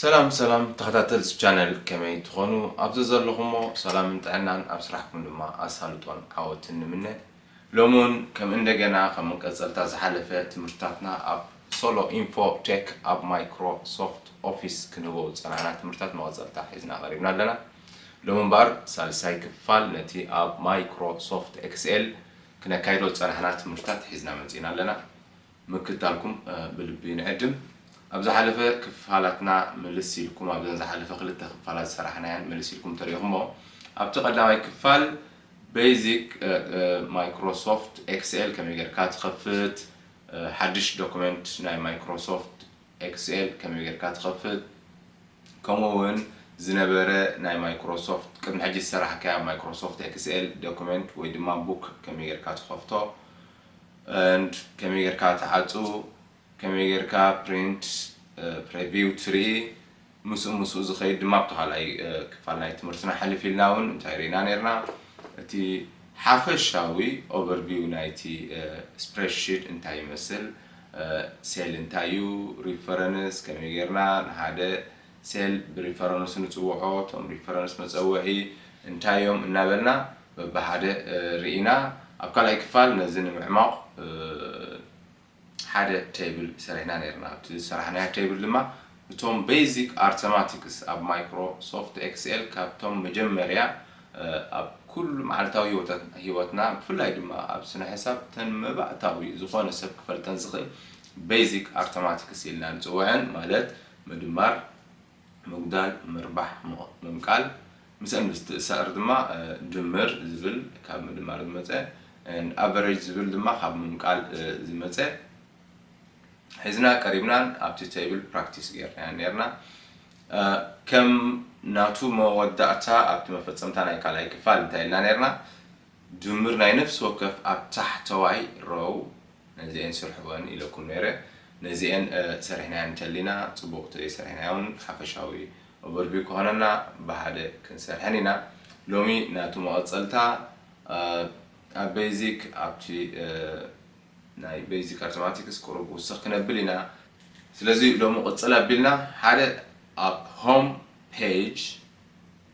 ሰላም ሰላም ተከታተልቲ ቻነል ከመይ ትኮኑ ኣብ ዘዘለኩሞ ሰላምን ጥዕናን ኣብ ስራሕኩም ድማ ኣሳልጦን ዓወትን ንምነ ሎሚ ውን ከም እንደገና ከም መቀጸልታ ዝሓለፈ ትምህርትታትና ኣብ Solo Info Tech ኣብ ማይክሮ ሶፍት ኦፊስ ክንህቦ ዝጸናሕና ትምህርትታት መቀጸልታ ሒዝና ቀሪብና ኣለና ሎሚ እምበኣር ሳልሳይ ክፋል ነቲ ኣብ ማይክሮ ሶፍት ኤክስኤል ክነካይዶ ዝጸናሕና ትምህርትታት ሒዝና መጺእና ኣለና ምክታልኩም ብልቢ ንዕድም። ኣብ ዝሓለፈ ክፋላትና ምልስ ኢልኩም ኣብዘን ዝሓለፈ ክልተ ክፋላት ዝሰራሕናየን ምልስ ኢልኩም ተሪእኹሞ ኣብቲ ቀዳማይ ክፋል Basic Microsoft Excel ከመይ ጌርካ ትኸፍት ሓድሽ ዶክመንት ናይ Microsoft Excel ከመይ ጌርካ ትኸፍት ከምኡ እውን ዝነበረ ናይ Microsoft ቅድሚ ሕጂ ዝሰራሕካዮ Microsoft Excel ዶክመንት ወይ ድማ ቡክ ከመይ ጌርካ ትኸፍቶ and ከመይ ጌርካ ትዓጹ ከመይ ጌርካ print preview ትርኢ ምስኡ ምስኡ ዝኸይድ ድማ ኣብቲ ካልኣይ ክፋል ናይ ትምህርትና ሕልፍ ኢልና ውን እንታይ ሪኢና ኔርና እቲ ሓፈሻዊ overview ናይቲ spreadsheet እንታይ ይመስል cell እንታይ እዩ reference ከመይ ጌርና ንሓደ ሴል ብሪፈረንስ ንፅውዖ፣ እቶም ሪፈረንስ መፀወዒ እንታይ እዮም እናበልና በብሓደ ርኢና ኣብ ካልኣይ ክፋል ነዚ ንምዕሟቕ ሓደ ቴብል ሰሪሕና ነይርና። ኣብቲ ዝሰራሕናዮ ቴብል ድማ እቶም ቤዚክ ኣርተማቲክስ ኣብ ማይክሮ ሶፍት ኤክስኤል ካብቶም መጀመርያ ኣብ ኩሉ መዓልታዊ ህይወትና ብፍላይ ድማ ኣብ ስነ ሕሳብ እተን መባእታዊ ዝኾነ ሰብ ክፈልጠን ዝኽእል ቤዚክ ኣርተማቲክስ ኢልና ንፅውዐን ማለት ምድማር፣ ምጉዳል፣ ምርባሕ፣ ምቕምቃል፣ ምስእን ምስትእሳር ድማ ድምር ዝብል ካብ ምድማር ዝመጸ and average ዝብል ድማ ካብ ምምቃል ዝመጸ ሒዝና ቀሪብናን ኣብቲ table practice ጌርናዮን ኔርና። ከም ናቱ መወዳእታ ኣብቲ መፈጸምታ ናይ ካልኣይ ክፋል እንታይ ኢልና ኔርና? ድምር ናይ ነፍሲ ወከፍ ኣብ ታሕተዋይ row ነዚኤን ስርሕወን ኢለኩም ነይረ። ነዚኤን ሰሪሕናየን እንተሊና ጽቡቕ እንተዘይሰሪሕናዮን ሓፈሻዊ overview ክኾነና ብሓደ ክንሰርሐን ኢና። ሎሚ ናቱ መቐጸልታ ኣብ basic ኣብቲ ናይ basic ኣርተማቲክስ ቁሩብ ውስኽ ክነብል ኢና። ስለዚ ሎሚ ቅጽል ኣቢልና ሓደ ኣብ home page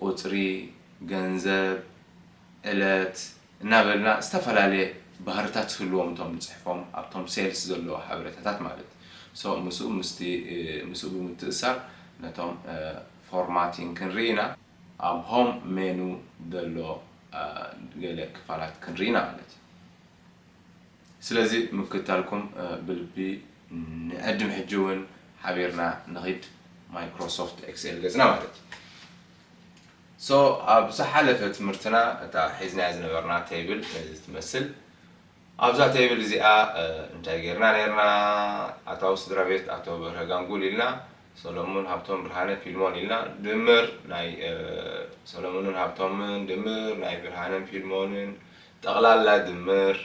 ቁጽሪ፣ ገንዘብ፣ ዕለት እናበልና ዝተፈላለየ ባህርታት ዝህልዎም እቶም ንጽሕፎም ኣብቶም ሴልስ ዘለዉ ሓበሬታታት ማለት so ምስኡ ምስቲ ምስኡ ብምትእስሳር ነቶም ፎርማቲንግ ክንርኢ ኢና ኣብ ሆም ሜኑ ዘሎ ገለ ክፋላት ክንርኢ ኢና ማለት እዩ። ስለዚ ምክታልኩም ብልቢ ንዕድም ሕጂ ውን ሓቢርና ንኺድ Microsoft Excel ገጽና ማለት እዩ so ኣብ ዝሓለፈ ትምህርትና እታ ሒዝናያ ዝነበርና table ነዚ ትመስል ኣብዛ table እዚኣ እንታይ ጌርና ኔርና ኣታዊ ስድራቤት ኣቶ በርሀ ጋንጉል ኢልና ሰሎሙን ሃብቶም ብርሃነ ፊልሞን ኢልና ድምር ናይ ሰሎሙንን ሃብቶምን ድምር ናይ ብርሃነን ፊልሞንን ጠቕላላ ድምር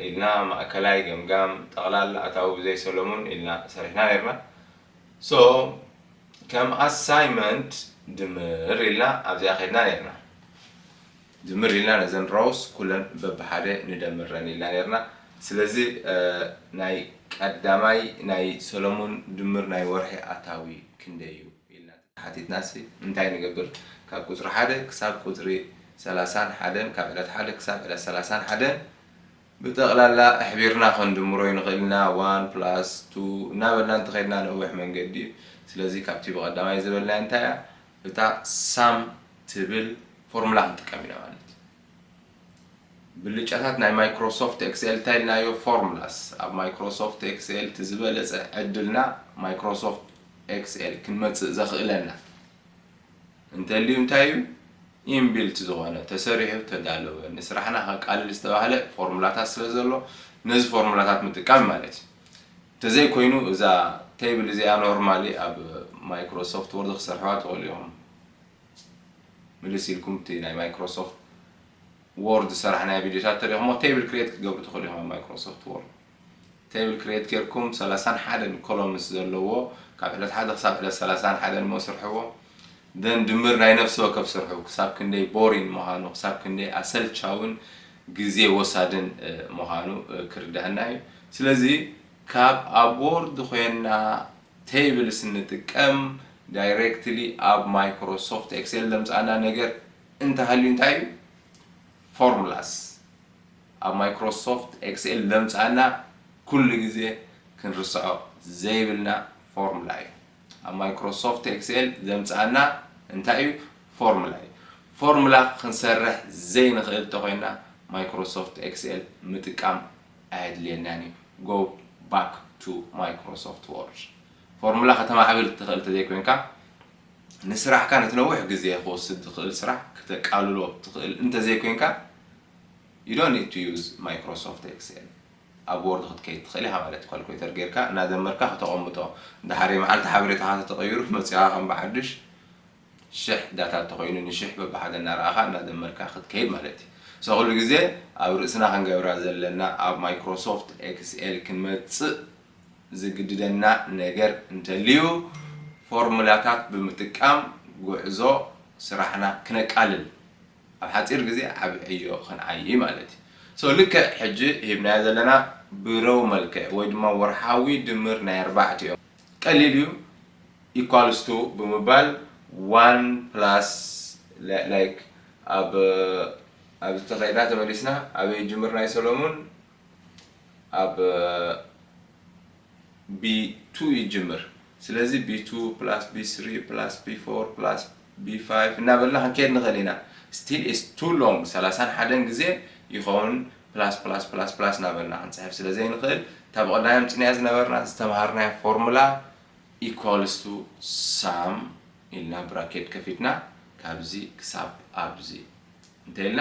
ኢልና ማእከላይ ገምጋም ጠቕላላ ኣታዊ ብዘይ ሰሎሙን ኢልና ሰሪሕና ነርና ሶ ከም ኣሳይመንት ድምር ኢልና ኣብዚኣ ከድና ነርና። ድምር ኢልና ነዘን ሮውስ ኩለን በብሓደ ንደምረን ኢልና ኔርና ስለዚ ናይ ቀዳማይ ናይ ሰለሙን ድምር ናይ ወርሒ ኣታዊ ክንደይ እዩ ኢልና ተተሓቲትናሲ እንታይ ንገብር ካብ ቁጽሪ ሓደ ክሳብ ቁጽሪ ሰላሳን ሓደን ካብ ዕለት ሓደ ክሳብ ዕለት ሰላሳን ሓደን ብጠቅላላ ኣሕቢርና ክንድምሮ ይንኽእል ኢና ዋን ፕላስ ቱ እናበልና እንተኸድና ነዊሕ መንገዲ እዩ ስለዚ ካብቲ ብቀዳማይ ዝበልናዮ እንታይ እያ እታ ሳም ትብል ፎርሙላ ክንጥቀም ኢና ማለት እዩ። ብልጫታት ናይ ማይክሮሶፍት ኤክስኤል እንታይ ኢልናዮ? ፎርሙላስ። ኣብ ማይክሮሶፍት ኤክስኤል እቲ ዝበለጸ ዕድልና ማይክሮሶፍት ኤክስኤል ክንመጽእ ዘኽእለና እንተልዩ እንታይ እዩ? ኢንቢልት ዝኾነ ተሰሪሑ ተዳለወ ንስራሕና ከቃልል ዝተባህለ ፎርሙላታት ስለ ዘሎ ነዚ ፎርሙላታት ምጥቃም ማለት እዩ። ተዘይ ኮይኑ እዛ ቴብል እዚኣ ኖርማሊ ኣብ ማይክሮ ሶፍት ወርድ ክሰርሕዋ ትክእሉ ኢኩም ምልስ ኢልኩም እቲ ናይ ማይክሮ ሶፍት ወርድ ዝሰራሕናዮ ቪድዮታት ተሪክሞ ቴብል ክሬት ክትገብሩ ትክእሉ ኢኩም ኣብ ማይክሮ ሶፍት ወርድ ቴብል ክሬት ጌርኩም ሰላሳን ሓደን ኮሎምንስ ዘለዎ ካብ ዕለት ሓደ ክሳብ ዕለት ሰላሳን ሓደን እሞ ስርሕዎ then ድምር ናይ ነፍሲ ወከፍ ስርሑ ክሳብ ክንደይ ቦሪን ምዃኑ ክሳብ ክንደይ ኣሰልቻውን ግዜ ወሳድን ምዃኑ ክርደኣና እዩ ስለዚ ካብ ኣቦርድ ኮይና ቴብልስ ንጥቀም ዳይሬክትሊ ኣብ ማይክሮ ሶፍት ኤክሴል ዘምጻኣና ነገር እንተሃልዩ እንታይ እዩ ፎርሙላስ ኣብ ማይክሮ ሶፍት ኤክሴል ዘምጻኣና ኩሉ ግዜ ክንርስዖ ዘይብልና ፎርሙላ እዩ ኣብ ማይክሮሶፍት ኤክስኤል ዘምጽኣና እንታይ እዩ ፎርሙላ እዩ ፎርሙላ ክንሰርሕ ዘይንኽእል ተኾይና ማይክሮሶፍት ኤክስኤል ምጥቃም ኣየድልየናን እዩ go back to Microsoft Word ፎርሙላ ከተማዕብል ትኽእል ተዘይኮይንካ ንስራሕካ ነቲ ነዊሕ ግዜ ክወስድ ዝኽእል ስራሕ ክተቃልሎ ትኽእል እንተዘይኮይንካ you don't need to use Microsoft Excel ኣብ ዎርድ ክትከይድ ትኽእል ኢኻ ማለት እዩ ካልኩሌተር ጌርካ እናደመርካ ክተቐምጦ ድሓረይ መዓልቲ ሓበሬታኻ ተተቐይሩ መጺኻ ከም ብሓዱሽ ሽሕ ዳታ እንተኾይኑ ንሽሕ በብሓደ እናረኣኻ እናደመርካ ክትከይድ ማለት እዩ so ኩሉ ግዜ ኣብ ርእስና ክንገብራ ዘለና ኣብ ማይክሮሶፍት ኤክስኤል ክንመጽእ ዝግድደና ነገር እንተልዩ ፎርሙላታት ብምጥቃም ጉዕዞ ስራሕና ክነቃልል ኣብ ሓጺር ግዜ ዓቢ ዕዮ ክንዓዪ ማለት እዩ። So ልክዕ ሕጂ ሂብናዮ ዘለና ብረው መልክዕ ወይ ድማ ወርሓዊ ድምር ናይ ኣርባዕቲኦም ቀሊል እዩ equals to ብምባል one plus like ኣብ ኣብዚ'ቲ ከይዳ ተመሊስና ኣበይ ይጅምር ናይ ሰሎሙን ኣብ ቢ ቱ እዩ ዝጅምር ስለዚ ቢ ቱ ፕላስ ቢ ስሪ ፕላስ ቢ ፎር ፕላስ ቢ ፋይቭ እናበልና ክንከይድ ንኽእል ኢና ስቲል ኢትስ ቱ ሎንግ ሰላሳን ሓደን ግዜ ይኸውን ፕላስ ፕላስ ፕላስ ፕላስ እናበልና ክንፅሕፍ ስለ ዘይንኽእል እታ ብቐዳይ ኣምፂእናያ ዝነበርና ዝተምሃርናያ ፎርሙላ ኢኳልስ ቱ ሳም ኢልና ብራኬት ከፊትና ካብዚ ክሳብ ኣብዚ እንተይልና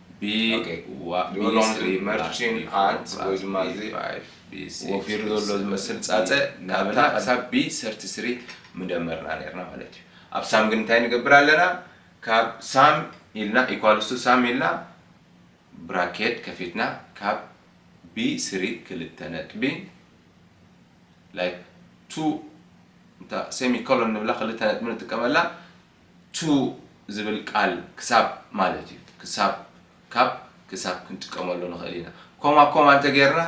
ብዋህዮ ሎንግሪ መርቺን ኣንት ወይ ድማ እዚ ወፊሩ ዘሎ ዝመስል ጻጸ ካብ ና ክሳብ ቢ ሰርቲ ስሪ ምደመርና ኔርና ማለት እዩ። ኣብ ሳም ግን እንታይ ንገብር ኣለና ካብ ሳም ኢልና ኢኳልስ ቱ ሳም ኢልና ብራኬት ከፊትና ካብ ቢ ስሪ ክልተ ነጥቢ ላይክ ቱ እታ ሴሚ ኮሎን ንብላ ክልተ ነጥቢ ንጥቀመላ to ዝብል ቃል ክሳብ ማለት እዩ። ክሳብ፣ ካብ፣ ክሳብ ክንጥቀመሉ ንኽእል ኢና። ኮማ ኮማ እንተጌርና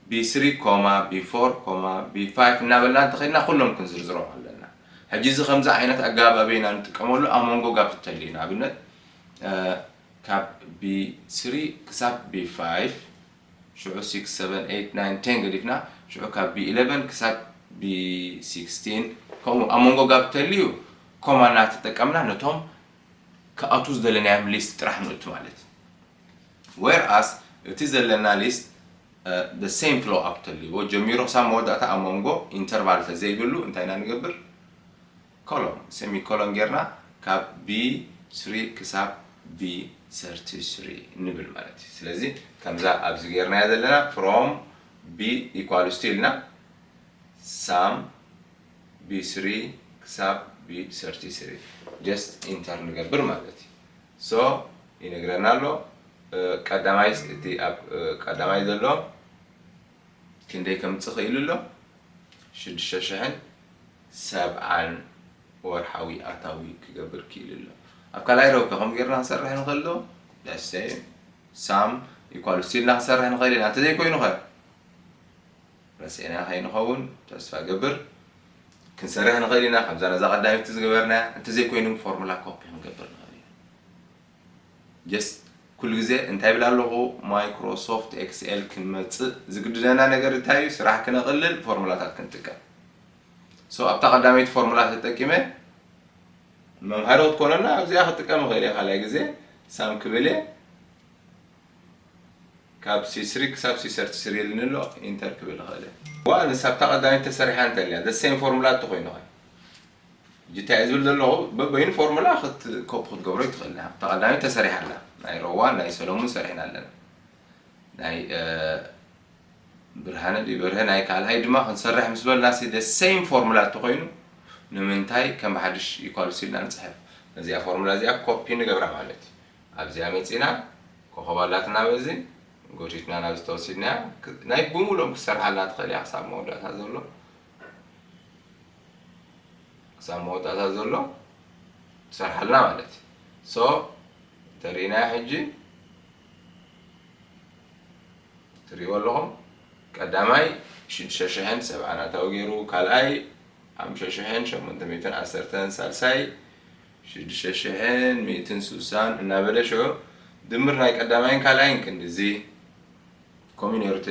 ብ three ኮማ ብ four ኮማ ብ five እናበልና እንተኸድና ኩሎም ክንዝርዝሮም ኣለና። ሕጂ እዚ ከምዚ ዓይነት ኣገባብ ኣበይ ኢና ንጥቀመሉ? ኣብ መንጎ ጋብ እንተልዩ ንኣብነት ካብ ብ three ክሳብ ብ five፣ ሽዑ ሲክስ ሰቨን ኤይት ናይን ቴን ገዲፍና ሽዑ ካብ ቢ ኢለቨን ክሳብ ቢ ሲክስቲን ከምኡ ኣብ መንጎ ጋብ ተልዩ ኮማ እናተጠቀምና ነቶም ክኣትዉ ዝደለናዮም ሊስት ጥራሕ ንእቱ ማለት እዩ ዌር ኣስ እቲ ዘለና ሊስት the same flow up ተልዎ ጀሚሩ ክሳብ መወዳእታ ኣብ መንጎ ኢንተርቫል ተዘይህሉ እንታይ ኢና ንገብር ኮሎን፣ ሴሚኮሎን፣ ጌርና ካብ B3 ክሳብ B33 ንብል ማለት እዩ። ስለዚ ከምዛ ኣብዚ ጌርናያ ዘለና from B equals to ኢልና sum B3 ክሳብ B33 just enter ንገብር ማለት እዩ። so ይነግረና ኣሎ ቀዳማይ እቲ ኣብ ቀዳማይ ዘሎ ክንደይ ከምጽእ ክኢሉ ኣሎ? ሽዱሽተ ሽሕን ሰብዓን ወርሓዊ ኣታዊ ክገብር ክኢሉ ኣሎ። ኣብ ካልኣይ ረብከ ከምኡ ጌርና ክንሰርሕ ንኽእል ዶ? Let's say ሳም ኢኳል ሲ ኢልና ክንሰርሕ ንኽእል ኢና። እንተዘይኮይኑኸ? ረሲዕናዮ ከይንኸውን ተስፋ እገብር። ክንሰርሕ ንኽእል ኢና ከምዛ ነዛ ቀዳመይቲ ዝገበርናያ። እንተዘይኮይኑ ፎርሙላ ኮፒ ክንገብር ንኽእል ኢና። ጀስት ኩሉ ግዜ እንታይ ይብል ኣለኹ ማይክሮ ሶፍት ኤክስኤል ክንመጽእ ዝግድደና ነገር እንታይ እዩ ስራሕ ክነቕልል ፎርሙላታት ክንጥቀም ሶ ኣብታ ቀዳመይቲ ፎርሙላ ተጠቂመ መምሃሮ ክትኮነና ኣብዚኣ ክጥቀም ይኽእል እየ ካልኣይ ግዜ ሳም ክብል እየ ካብ ሲስሪ ክሳብ ሲሰርቲ ስሪ ኢልኒ ኣሎ ኢንተር ክብል ይኽእል እየ ዋ ንሳብታ ቀዳመይቲ ተሰሪሓ እንተልያ ዘሴም ፎርሙላ እተኮይኑ ኸ ሕጂ እንታይ እየ ዝብል ዘለኹ በበይኑ ፎርሙላ ክት ኮፒ ክትገብሮ ይትኽእል ኢኻ እታ ቀዳመይቲ ተሰሪሓ ኣላ ናይ ሮዋን ናይ ሰለሙን ሰሪሕና ኣለና ናይ ብርሃነ ድዩ በርሀ ናይ ካልኣይ ድማ ክንሰርሕ ምስ በልና ሲ the same ፎርሙላ እንተኾይኑ ንምንታይ ከም ብሓድሽ ኢኳልስ ኢልና ንጽሕፍ ነዚኣ ፎርሙላ እዚኣ ኮፒ ንገብራ ማለት እዩ ኣብዚኣ መጺና ኮኸብ ኣላትና በዚ ጎቲትና ናብ ዝተወሲድናያ ናይ ብምሉኦም ክትሰርሓልና ትኽእል እያ ክሳብ መወዳእታ ዘሎ ክሳብ መወዳእታ ዘሎ ትሰርሓልና ማለት እዩ ሶ ተሪእናዮ ሕጂ ትሪእዎ ኣለኹም ቀዳማይ ሽዱሽተ ሽሕን ሰብዓን ኣታዊ ገይሩ ካልኣይ ሓሙሽተ ሽሕን ሸሞንተ ሚእትን ዓሰርተን ሳልሳይ ሽዱሽተ ሽሕን ሚእትን ስሳን እናበለ ሽዑ ድምር ናይ ቀዳማይን ካልኣይን ክንዲዚ ኮሚኖርቲ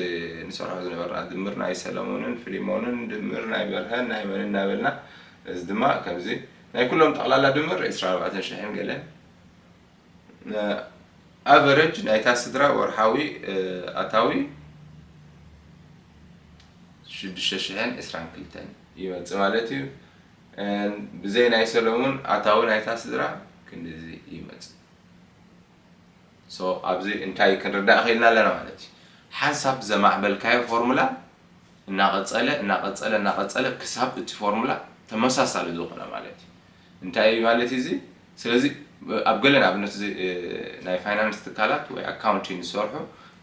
ንሰርሖ ዝነበርና ድምር ናይ ሰለሙንን ፍሊሞንን ድምር ናይ በርሀን ናይ መንን እናበልና እዚ ድማ ከምዚ ናይ ኩሎም ጠቕላላ ድምር ዕስራን ኣርባዕተን ሽሕን ገለን ኣቨረጅ ናይታ ስድራ ወርሓዊ ኣታዊ ሽዱሽተ ሽሕን ዕስራን ክልተን ይመፅእ ማለት እዩ ብዘይ ናይ ሰለሙን ኣታዊ ናይታ ስድራ ክንድዚ ይመፅእ So ኣብዚ እንታይ ክንርዳእ ኼልና ኣለና ማለት እዩ ሓንሳብ ዘማዕበልካዮ ፎርሙላ እናቐጸለ እናቐጸለ እናቐጸለ ክሳብ እቲ ፎርሙላ ተመሳሳሊ ዝኾነ ማለት እዩ እንታይ እዩ ማለት እዩ እዚ ስለዚ ኣብ ገለ ንኣብነት እዚ ናይ ፋይናንስ ትካላት ወይ ኣካውንቲን ዝሰርሑ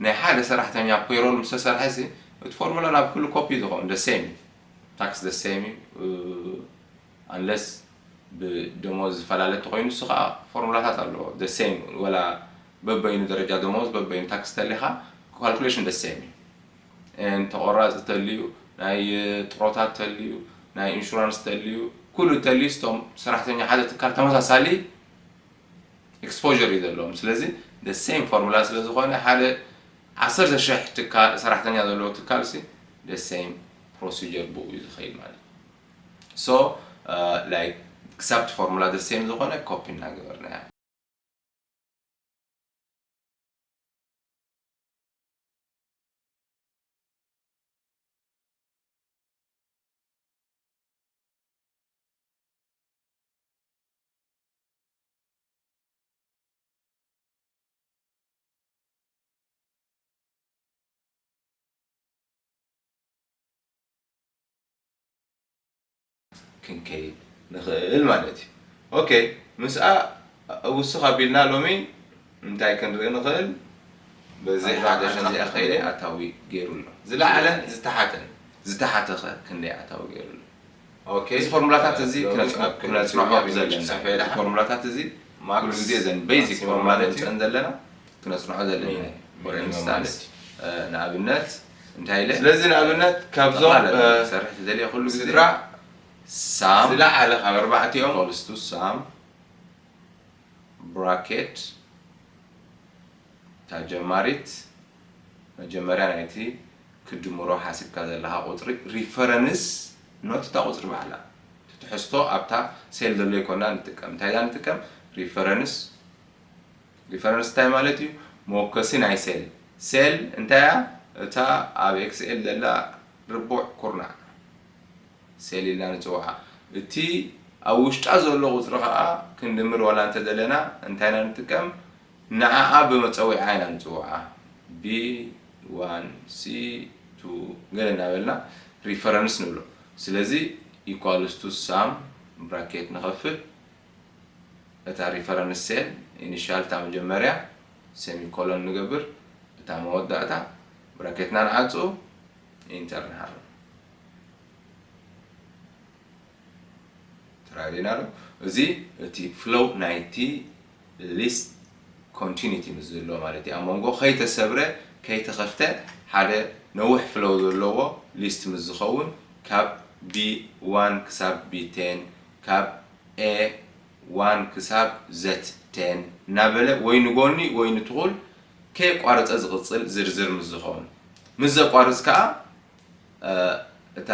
ናይ ሓደ ሰራሕተኛ ፔሮል ምስ ተሰርሐ እዚ እቲ ፎርሙላ ናብ ኩሉ ኮፒ ዝኸውን the same እዩ ታክስ the same እዩ Unless ብደሞዝ ዝፈላለ እንተኾይኑ ንሱ ከኣ ፎርሙላታት ኣለዎ the same ወላ በበይኑ ደረጃ ደሞዝ በበይኑ ታክስ ተሊኻ calculation the same እዩ and ተቆራጺ ተልዩ ናይ ጥሮታ ተልዩ ናይ ኢንሹራንስ ተልዩ ኩሉ ተልዩ ስቶም ሰራሕተኛ ሓደ ትካል ተመሳሳሊ exposure እዩ ዘለዎም ስለዚ the same ፎርሙላ ስለ ዝኾነ ሓደ ዓሰርተ ሽሕ ትካል ሰራሕተኛ ዘለዎ ትካልሲ the same procedure ብኡ እዩ ዝኸይድ ማለት እዩ So like ክሳብ እቲ ፎርሙላ the same ዝኾነ ኮፒ እናገበርና ኢና። ክንከይድ ንኽእል ማለት እዩ። ኦኬ ምስኣ ውስኽ ኣቢልና ሎሚ እንታይ ክንርኢ ንኽእል? በዚ ሓደ ክንደይ ኣኸይደ ኣታዊ ገይሩ ኣሎ? ዝለዓለን ዝተሓተን። ዝተሓተኸ ክንደይ ኣታዊ ገይሩ ኣሎ? ኦኬ እዚ ፎርሙላታት እዚ ክነጽንሖ ዘለና እዩ። እዚ ፎርሙላታት እዚ ኩሉ ግዜ እዘን በይዚክ ፎርሙላ ነምጽእን ዘለና። ክነጽንዖ ዘለና እዩ። ወረ ምሳሌ ንኣብነት እንታይ ኢለ ስለዚ ንኣብነት ካብዞም ጠቕላላ እ፣ ክሰርሕ ዝደልየ ኩሉ ግዜ ስድራ ሳም ዝለዓለ ካብ ኣርባዕቲኦም equals to ሳም ብራኬት እታ ጀማሪት መጀመርያ ናይቲ ክትድምሮ ሓሲብካ ዘለኻ ቁጽሪ ሪፈረንስ ኖት እታ ቁጽሪ ባዕላ እቲ ትሕዝቶ ኣብታ ሴል ዘሎ ኣይኮናን ንጥቀም እንታይ ኢና ንጥቀም ሪፈረንስ ሪፈረንስ እንታይ ማለት እዩ? መወከሲ ናይ ሴል። ሴል እንታይ እያ? እታ ኣብ ኤክስኤል ዘላ ርቡዕ ኩርናዕ ሴል ኢልና ንጽውዓ። እቲ ኣብ ውሽጣ ዘሎ ቁጽሪ ከኣ ክንድምር ዋላ እንተደለና እንታይ ኢና ንጥቀም? ንዓኣ ብመጸዊዓ ኢና ንጽውዓ። ቢ ዋን ሲ ቱ ገለ እናበልና ሪፈረንስ ንብሎ። ስለዚ ኢኳልስ ቱ ሳም ብራኬት ንኸፍት። እታ ሪፈረንስ ሴል፣ ኢኒሻል፣ እታ መጀመርያ፣ ሴሚኮሎን ንገብር፣ እታ መወዳእታ፣ ብራኬትና ንዓጹ፣ ኢንተር ንሃርም። ትራዲና ዶ እዚ እቲ ፍሎው ናይቲ ሊስት ኮንቲኒቲ ምስ ዝህልዎ ማለት እዩ ኣብ መንጎ ከይተሰብረ ከይተኸፍተ ሓደ ነዊሕ ፍሎው ዘለዎ ሊስት ምስ ዝኸውን ካብ ቢ ዋን ክሳብ ቢ ቴን ካብ a one ክሳብ z ten እናበለ ወይ ንጎኒ ወይ ንትኹል ከየቋረፀ ዝቕፅል ዝርዝር ምስ ዝኸውን። ምስ ዘቋርፅ ከዓ እታ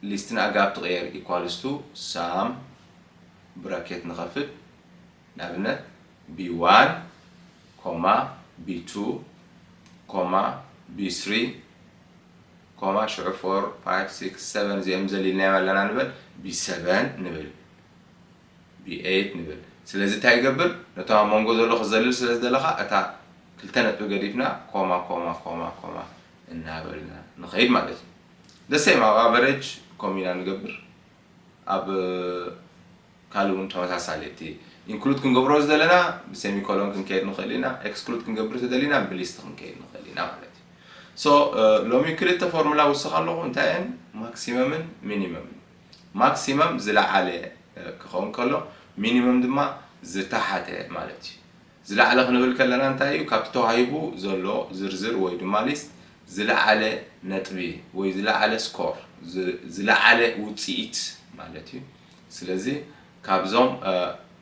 ሊስት ንኣጋብ ትቕየር equals to sum ብራኬት ንኸፍት ንኣብነት b one, b two, b three ኮማ ሽዑ ፎር ፋይቭ ሲክስ ሰቨን እዚኦም ዘሊልናዮም ኣለና ንበል ቢ ሰቨን ንብል ቢ ኤይት ንብል ስለዚ እንታይ ይገብር ነቶም ኣብ መንጎ ዘሎ ክዘልል ስለ ዝደለኻ እታ ክልተ ነጥቢ ገዲፍና ኮማ ኮማ ኮማ ኮማ እናበልና ንኸይድ ማለት እዩ ደሰይም ኣብ ኣቨሬጅ ኮሚና ንገብር ኣብ ካልእ እውን ተመሳሳሊ እቲ ኢንክሉድ ክንገብሮ ዝደለና ብሰሚኮሎን ክንከይድ ንኽእል ኢና ኤክስክሉድ ክንገብር ተደሊና ብሊስት ክንከይድ ንኽእል ኢና ማለት እዩ ሶ ሎሚ ክልተ ፎርሙላ ውስኽ ኣለኹ እንታይ እየን ማክሲመምን ሚኒመምን ማክሲመም ዝለዓለ ክኸውን ከሎ ሚኒመም ድማ ዝተሓተ ማለት እዩ ዝለዓለ ክንብል ከለና እንታይ እዩ ካብቲ ተዋሂቡ ዘሎ ዝርዝር ወይ ድማ ሊስት ዝለዓለ ነጥቢ ወይ ዝለዓለ ስኮር ዝለዓለ ውፅኢት ማለት እዩ ስለዚ ካብዞም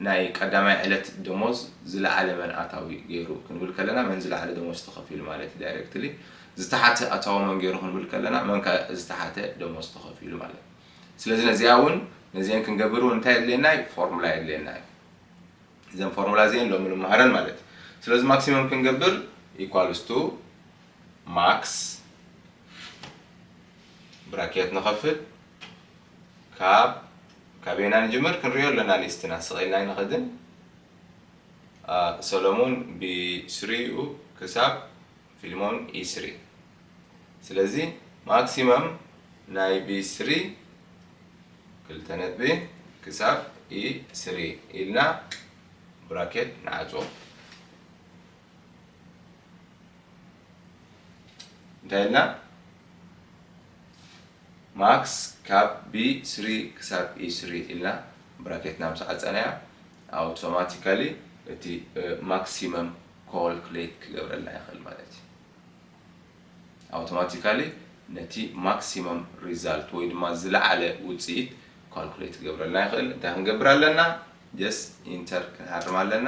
ናይ ቀዳማይ ዕለት ደሞዝ ዝለዓለ መን ኣታዊ ገይሩ ክንብል ከለና መን ዝለዓለ ደሞዝ ተኸፊሉ ማለት እዩ ዳይሬክትሊ ዝተሓተ ኣታዊ መን ገይሩ ክንብል ከለና መን ከ ዝተሓተ ደሞዝ ተኸፊሉ ማለት እዩ ስለዚ ነዚኣ እውን ነዚአን ክንገብር እውን እንታይ የድልየና እዩ ፎርሙላ የድልየና እዩ እዘን ፎርሙላ እዚአን ሎሚ ንመሃረን ማለት እዩ ስለዚ ማክሲመም ክንገብር ኢኳልስ ቱ ማክስ ብራኬት ንኸፍት ካብ ካብ ኢና ንጅምር ክንሪኦ ኣለና ሊስትና ስቅ ኢልና ኣይንከድን ሰሎሙን ብ ስሪ ዩ ክሳብ ፊልሞን ኢ ስሪ ስለዚ ማክሲመም ናይ ብ ስሪ ክልተ ነጥቢ ክሳብ ኢ ስሪ ኢልና ብራኬት ንዓጽዎ እንታይ ኢልና ማክስ ካብ ብ ስሪ ክሳብ ኢ ስሪ ኢልና ብራኬትና ምስ ዓጸናያ ኣውቶማቲካሊ እቲ ማክሲመም ኮልኩሌት ክገብረልና ይኽእል ማለት እዩ። ኣውቶማቲካሊ ነቲ ማክሲመም ሪዛልት ወይ ድማ ዝለዓለ ውጽኢት ኮልኩሌት ክገብረልና ይኽእል። እንታይ ክንገብር ኣለና? ጀስት ኢንተር ክንሃርም ኣለና።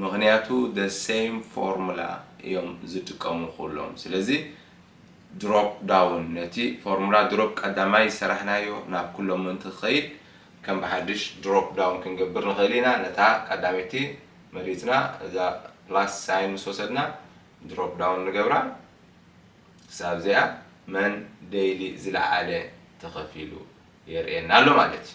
ምኽንያቱ the same formula እዮም ዝጥቀሙ ኩሎም ስለዚ drop down ነቲ ፎርሙላ ድሮፕ ቀዳማይ ዝሰራሕናዮ ናብ ኩሎም ምእንቲ ክኸይድ ከም ብሓድሽ drop down ክንገብር ንኽእል ኢና ነታ ቀዳመይቲ መሪጽና እዛ plus ሳይን ምስ ወሰድና drop down ንገብራ ክሳብ እዚኣ መን daily ዝለዓለ ተኸፊሉ የርእየና ኣሎ ማለት እዩ።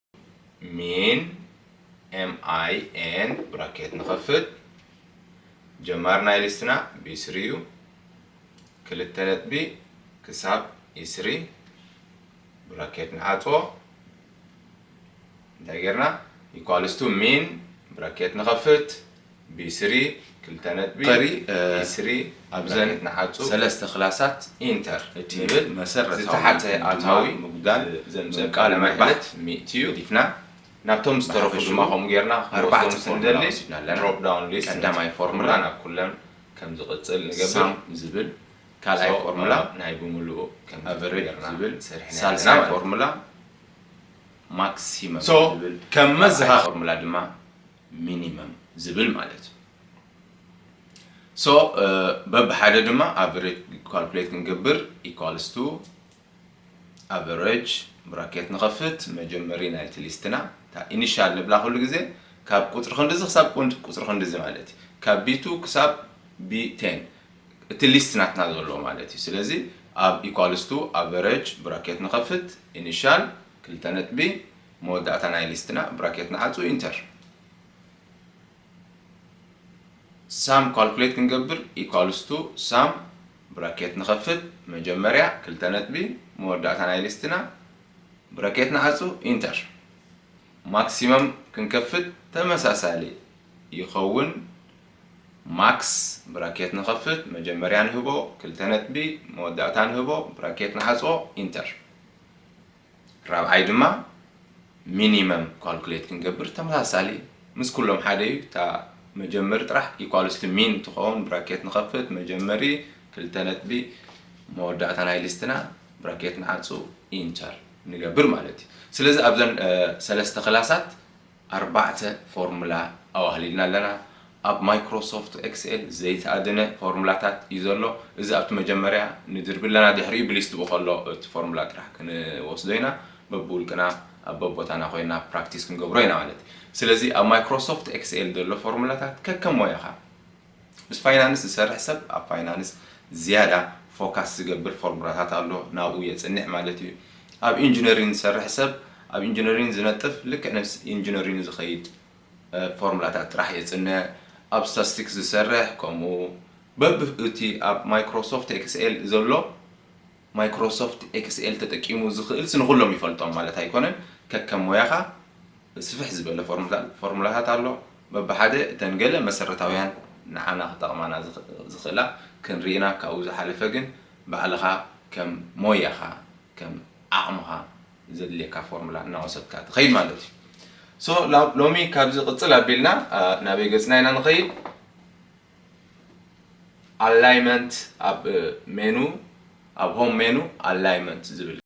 min min ብራኬት ንኸፍት ጀማር ናይ ሊስትና ብስሪ እዩ ክልተ ነጥቢ ክሳብ ኢስሪ ብራኬት ንዓጾ እንታይ ጌርና ኢኳልስቱ ሚን ብራኬት ንኸፍት ቢስሪ ክልተ ነጥቢ ቀሪ ቢስሪ ኣብዘን ንሓጹ ሰለስተ ክላሳት ኢንተር እቲ ንብል መሰረታዊ ዝተሓተ ኣታዊ ምጉዳል ዘምጽእ ቃለ መሕትት ሚእቲ ዩ ገዲፍና ናብቶም ዝተረፉ ድማ ከምኡ ጌርና ክንወስዶም ስንደሊ ድሮፕ ዳውን ሊስት ቀዳማይ ፎርሙላ ናብ ኩለን ከም ዝቕጽል ንገብር ሳም ዝብል ካልኣይ ፎርሙላ ናይ ብምሉኡ ከም ኣቨሬጅ ዝብል ሰሪሕና ሳልሳይ ፎርሙላ ማክሲመም ዝብል ከም መዘኻኸሪ ፎርሙላ ድማ ሚኒመም ዝብል ማለት እዩ ሶ በብሓደ ድማ ኣቨሬጅ ካልኩሌት ክንገብር ኢኳልስ ቱ ኣቨሬጅ ብራኬት ንኸፍት መጀመሪ ናይቲ ሊስትና እታ ኢኒሻል ንብላ ኩሉ ግዜ ካብ ቁፅሪ ክንድዚ ክሳብ ቁፅሪ ክንድዚ ማለት እዩ ካብ ቢቱ ክሳብ ቢቴን እቲ ሊስት ናትና ዘሎ ማለት እዩ ስለዚ ኣብ ኢኳልስ ቱ ኣቨሬጅ ብራኬት ንኸፍት ኢኒሻል ክልተ ነጥቢ መወዳእታ ናይ ሊስትና ብራኬት ንዓጹ ኢንተር። ሳም ኳልኩሌት ክንገብር ኢኳልስ ቱ ሳም ብራኬት ንኸፍት መጀመርያ ክልተ ነጥቢ መወዳእታ ናይ ሊስትና ብራኬት ንዓጹ ኢንተር። ማክሲመም ክንከፍት ተመሳሳሊ ይኸውን ማክስ ብራኬት ንኸፍት መጀመርያ ንህቦ ክልተ ነጥቢ መወዳእታ ንህቦ ብራኬት ንዓጽዎ ኢንተር። ራብዓይ ድማ ሚኒመም ኳልኩሌት ክንገብር ተመሳሳሊ ምስ ኩሎም ሓደ እዩ እታ መጀመሪ ጥራሕ ኢኳልስ ቱ ሚን ትኸውን ብራኬት ንኸፍት መጀመሪ ክልተ ነጥቢ መወዳእታ ናይ ሊስትና ብራኬት ንዓፁ ኢንተር ንገብር ማለት እዩ ስለዚ ኣብዘን ሰለስተ ክላሳት ኣርባዕተ ፎርሙላ ኣዋህሊልና ኣለና። ኣብ ማይክሮሶፍት ኤክስኤል ዘይተኣደነ ፎርሙላታት እዩ ዘሎ። እዚ ኣብቲ መጀመርያ ንድርቢ ኣለና፣ ድሕሪኡ ብሊስት ብኸሎ እቲ ፎርሙላ ጥራሕ ክንወስዶ ኢና። በብውልቅና ኣብ በቦታና ኮይና ፕራክቲስ ክንገብሮ ኢና ማለት እዩ። ስለዚ ኣብ ማይክሮሶፍት ኤክስኤል ዘሎ ፎርሙላታት ከከም ሞያኻ፣ ምስ ፋይናንስ ዝሰርሕ ሰብ ኣብ ፋይናንስ ዝያዳ ፎካስ ዝገብር ፎርሙላታት ኣሎ ናብኡ የጽንዕ ማለት እዩ። ኣብ ኢንጅነሪን ዝሰርሕ ሰብ ኣብ ኢንጅነሪን ዝነጥፍ ልክዕ ነብስ ኢንጅነሪኑ ዝኸይድ ፎርሙላታት ጥራሕ የጽንዕ። ኣብ ስታስቲክስ ዝሰርሕ ከምኡ በብ እቲ ኣብ ማይክሮሶፍት ኤክስኤል ዘሎ ማይክሮሶፍት ኤክስኤል ተጠቂሙ ዝኽእልስ ንኹሎም ይፈልጦም ማለት ኣይኮነን። ከከም ሞያኻ ስፍሕ ዝበለ ፎርሙላ ፎርሙላታት ኣሎ። በብሓደ እተን ገለ መሰረታውያን ንዓና ክጠቕማና ዝኽእላ ክንርኢ ኢና። ካብኡ ዝሓለፈ ግን ባዕልኻ ከም ሞያኻ ከም ዓቕምኻ ዘድልየካ ፎርሙላ እናወሰድካ ትኸይድ ማለት እዩ። ሶ ሎሚ ካብዚ ቅጽል ኣቢልና ናበይ ገጽና ኢና ንኸይድ? ኣላይመንት ኣብ ሜኑ ኣብ ሆም ሜኑ ኣላይመንት ዝብል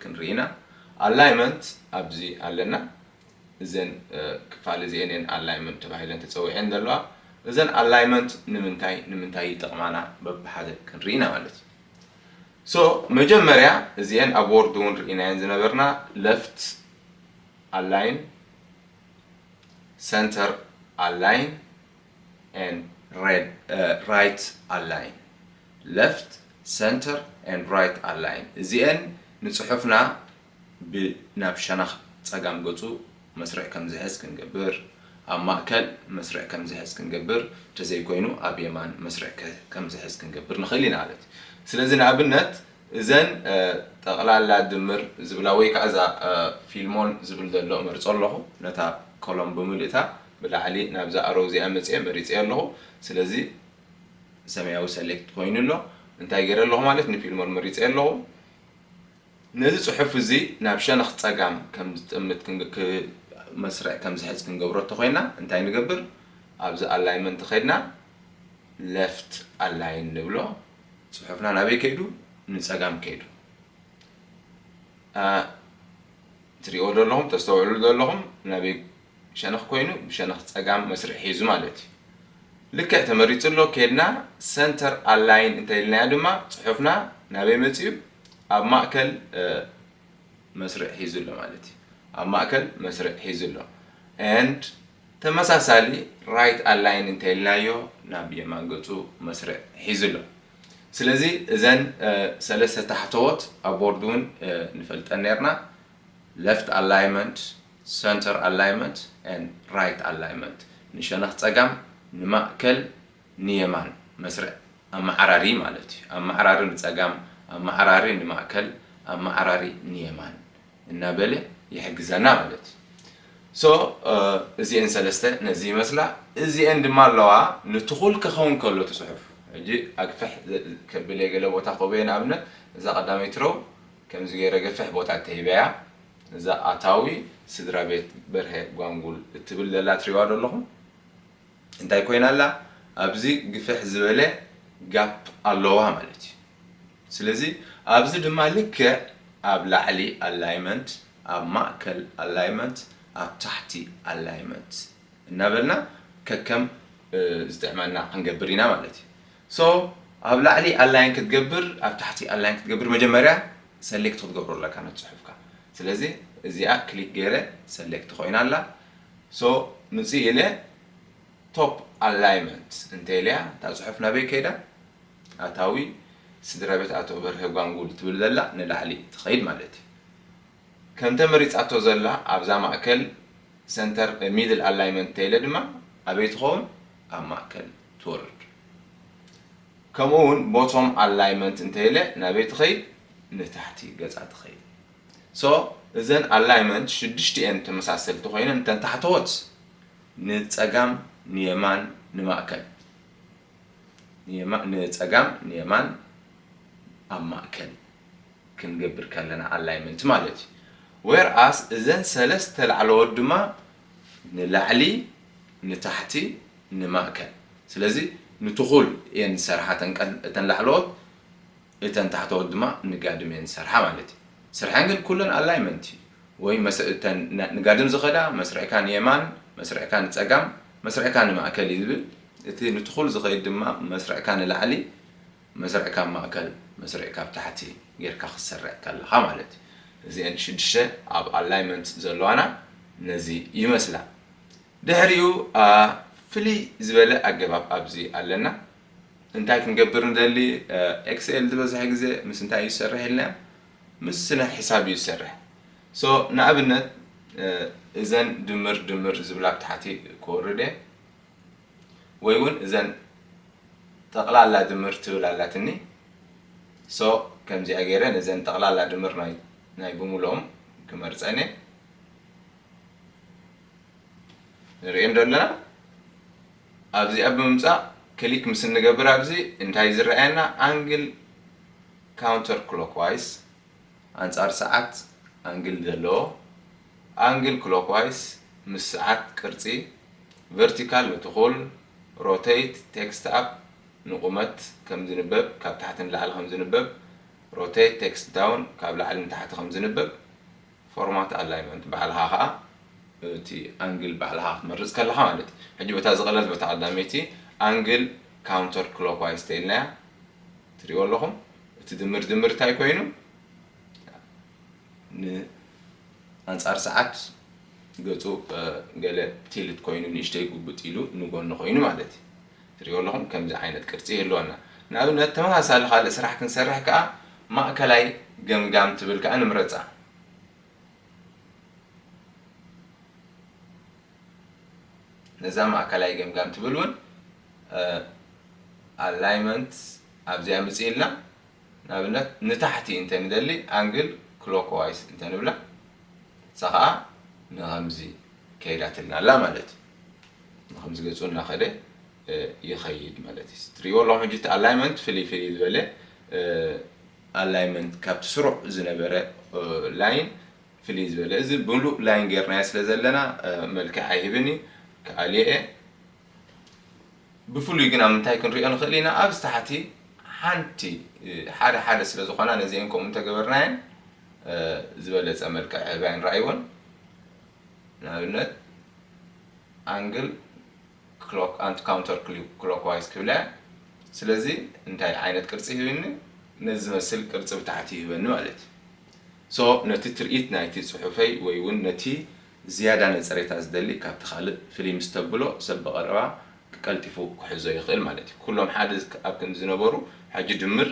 ክንርኢ ኢና Alignment ኣብዚ ኣለና እዘን ክፋል እዚኤን እየን Alignment ተባሂለን ተጸዊዔን ዘለዋ እዘን Alignment ንምንታይ ንምንታይ ይጠቕማና በብሓደ ክንርኢ ኢና ማለት እዩ So መጀመርያ እዚኤን ኣብ Word እውን ርኢናየን ዝነበርና Left Align Center Align and Right Align፣ Left Center and Right Align፣ እዚኤን ንጽሑፍና ብ ናብ ሸነኽ ጸጋም ገጹ መስርዕ ከም ዝሕዝ ክንገብር፣ ኣብ ማእከል መስርዕ ከም ዝሕዝ ክንገብር፣ እንተዘይኮይኑ ኣብ የማን መስርዕ ከም ዝሕዝ ክንገብር ንኽእል ኢና። ስለዚ ንኣብነት እዘን ጠቕላላ ድምር ዝብላ ወይ ከኣ እዛ ፊልሞን ዝብል ዘሎ እመርጾ ኣለኹ። ነታ ኮሎም ብምልእታ ብላዕሊ ናብዛ ኣሮው እዚኣ መጺኤ መሪጸዮ ኣለኹ። ስለዚ ሰማያዊ ሰሌክት ኮይኑ ኣሎ። እንታይ ገይረ ኣለኹ ማለት ንፊልሞን መሪጸዮ ኣለኹ። ነዚ ጽሑፍ እዚ ናብ ሸነኽ ጸጋም ከም ዝጥምት መስርዕ ከም ዝሕዝ ክንገብሮ እንተኾይና እንታይ ንገብር ኣብዚ ኣላይመንት ከድና ለፍት ኣላይን ንብሎ። ጽሑፍና ናበይ ከይዱ ንጸጋም ከይዱ ኣ ትሪእዎ ዶ ኣለኹም ተስተውዕሉ ዶ ኣለኹም ናበይ ሸነኽ ኮይኑ ብሸነኽ ጸጋም መስርዕ ሒዙ ማለት እዩ ልክዕ ተመሪጹ ኣሎ ኬድና ሰንተር ኣላይን እንተኢልናዮ ድማ ጽሑፍና ናበይ መጽዩ ኣብ ማእከል መስርዕ ሒዙ ኣሎ ማለት እዩ ኣብ ማእከል መስርዕ ሒዙ ኣሎ and ተመሳሳሊ ራይት ኣላይን እንተኢልናዮ ናብ የማን ገጹ መስርዕ ሒዙ ኣሎ። ስለዚ እዘን ሰለስተ ታሕተዎት ኣብ ቦርድ እውን ንፈልጠን ኔርና፣ ለፍት ኣላይመንት፣ ሰንተር ኣላይመንት and ራይት ኣላይመንት፣ ንሸነኽ ጸጋም፣ ንማእከል፣ ንየማን መስርዕ ኣመዓራሪ ማለት እዩ። ኣመዓራሪ ንጸጋም፣ ኣመዓራሪ ንማእከል፣ ኣመዓራሪ ንየማን እናበለ ይሕግዘና ማለት እዩ። so እዚኤን ሰለስተ ነዚ ይመስላ እዚኤን ድማ ኣለዋ ንትኹል ከኸውን ከሎ እቲ ጽሑፍ ሕጂ ኣግፍሕ ከብል እየ ገለ ቦታ ክህቦ እየ ንኣብነት እዛ ቀዳመይቲ ሮው ከምዚ ገይረ ገፍሕ ቦታ ተሂበያ እዛ ኣታዊ ስድራቤት በርሀ ጓንጉል እትብል ዘላ ትሪእዋ ዶ ኣለኹም እንታይ ኮይና ኣላ ኣብዚ ግፍሕ ዝበለ ጋፕ ኣለዋ ማለት እዩ ስለዚ ኣብዚ ድማ ልክዕ ኣብ ላዕሊ ኣላይመንት ኣብ ማእከል ኣላይመንት ኣብ ታሕቲ ኣላይመንት እናበልና ከከም ዝጥዕመና ክንገብር ኢና ማለት እዩ so ኣብ ላዕሊ ኣላይን ክትገብር ኣብ ታሕቲ ኣላይን ክትገብር መጀመርያ ሰሌክት ክትገብሮ ኣለካ ነት ጽሑፍካ ስለዚ እዚኣ ክሊክ ገይረ ሰሌክት ኮይና ኣላ So ምጽእ ኢለ Top Alignment እንተ ኢለያ እታ ጽሑፍ ናበይ ከይዳ ኣታዊ ስድራቤት ኣቶ በርሀ ጓንጉል ትብል ዘላ ንላዕሊ ትኸይድ ማለት እዩ። ከምተ መሪጻቶ ዘላ ኣብዛ ማእከል Center Middle Alignment እንተ ኢለ ድማ ኣበይ ትኸውን ኣብ ማእከል ትወርድ። ከምኡ ውን Bottom Alignment እንተ ኢለ ናበይ ትኸይድ ንታሕቲ ገጻ ትኸይድ። So እዘን ኣላይመንት ሽዱሽቲኤን ተመሳሰልቲ ኮይነን እተን ታሕተዎት ንጸጋም ንየማን ንማእከል ንጸጋም ንየማን ኣብ ማእከል ክንገብር ከለና ኣላይመንት ማለት እዩ ዌር ኣስ እዘን ሰለስተ ላዕለዎት ድማ ንላዕሊ ንታሕቲ ንማእከል ስለዚ ንትኹል እየን ዝሰርሓ እተን ላዕለዎት እተን ታሕተዎት ድማ ንጋድም እየን ዝሰርሓ ማለት እዩ። ስርሐን ግን ኩለን ኣላይመንት እዩ ወይ መስ እተን ንጋድም ዝኸዳ መስርዕካ ንየማን መስርዕካ ንጸጋም መስርዕካ ንማእከል እዩ ዝብል እቲ ንትኹል ዝኸይድ ድማ መስርዕካ ንላዕሊ መስርዕ ካብ ማእከል መስርዕ ካብ ታሕቲ ጌርካ ክትሰርዕ ከለኻ ማለት እዩ። እዚኤን ሽዱሽተ ኣብ ኣላይመንት ዘለዋና ነዚ ይመስላ። ድሕሪኡ ፍልይ ዝበለ ኣገባብ ኣብዚ ኣለና። እንታይ ክንገብር ንደሊ? ኤክስኤል ዝበዝሐ ግዜ ምስ እንታይ እዩ ዝሰርሕ ኢልና? ምስ ስነ ሕሳብ እዩ ዝሰርሕ። ሶ ንኣብነት እዘን ድምር ድምር ዝብላ ኣብ ታሕቲ ክወርድ እየ ወይ እውን እዘን ጠቕላላ ድምር ትብል ኣላትኒ ሶ ከምዚኣ ገይረ ነዘን ጠቕላላ ድምር ናይ ናይ ብምልኦም ክመርፀን እየ ንርእዮም ዶ ኣለና? ኣብዚኣ ብምምጻእ ክሊክ ምስ እንገብር ኣብዚ እንታይ እዩ ዝረኣየና ኣንግል ካውንተር ክሎክ ዋይስ ኣንጻር ሰዓት ኣንግል ዘለዎ ኣንግል ክሎክ ዋይስ ምስ ሰዓት ቅርጺ ቨርቲካል ንትኹል ሮተይት ቴክስት ኣፕ ንቑመት ከም ዝንበብ ካብ ታሕቲ ንላዕሊ ከም ዝንበብ ሮተይት ቴክስት ዳውን ካብ ላዕሊ ንታሕቲ ከም ዝንበብ ፎርማት ኣላይመንት ባዕልኻ ከኣ እቲ ኣንግል ባዕልኻ ክትመርጽ ከለኻ ማለት እዩ። ሕጂ በታ ዝቐለልት በታ ቀዳመይቲ ኣንግል ካውንተር ክሎክዋይዝ ተኢልናያ ትርእይዎ ኣለኹም። እቲ ድምር ድምር እንታይ ኮይኑ ን ኣንጻር ሰዓት ገጹ ገለ ቲልት ኮይኑ ንእሽተይ ጉብጥ ኢሉ ንጎኒ ኮይኑ ማለት እዩ። ትሪእዎ ኣለኹም ከምዚ ዓይነት ቅርጺ ይህልወና። ንኣብነት ተመሳሳሊ ካልእ ስራሕ ክንሰርሕ ከኣ ማእከላይ ገምጋም ትብል ከኣ ንምረጻ። ነዛ ማእከላይ ገምጋም ትብል እውን ኣላይመንት ኣብዚኣ ምጽእ ኢልና ንኣብነት ንታሕቲ እንተ ንደሊ ኣንግል ክሎክዋይስ እንተ ንብላ ንሳ ከኣ ንኸምዚ ከይዳትልና ኣላ ማለት እዩ። ንከምዚ ገጹ እናከደ ይከይድ ማለት እዩ ትሪእዎ ኣለኹም ሕጂ እቲ ኣላይመንት ፍልይ ፍልይ ዝበለ ኣላይመንት ካብቲ ስሩዕ ዝነበረ ላይን ፍልይ ዝበለ እዚ ብሙሉእ ላይን ጌርናዮ ስለ ዘለና መልክዕ ኣይህብን እዩ ክኣልዮ እየ ብፍሉይ ግን ኣብ ምንታይ ክንሪኦ ንኽእል ኢና ኣብዚ ታሕቲ ሓንቲ ሓደ ሓደ ስለ ዝኾና ነዚአን ከምኡ እንተገበርናየን ዝበለፀ መልክዕ ህባይን ራእይዎን ንኣብነት ኣንግል ክሎክ ኣንት ካውንተር ክሎክ ዋይዝ ክብላ እያ ስለዚ እንታይ ዓይነት ቅርጺ ሂብኒ ነዚ ዝመስል ቅርጺ ብታሕቲ ይህበኒ ማለት እዩ so ነቲ ትርኢት ናይቲ ጽሑፈይ ወይ ውን ነቲ ዝያዳ ነጸሬታ ዝደሊ ካብቲ ካልእ ፍልይ ምስ ተብሎ ሰብ ብቐረባ ቀልጢፉ ክሕዞ ይኽእል ማለት እዩ ኩሎም ሓደ ኣብ ክንዲ ዝነበሩ ሕጂ ድምር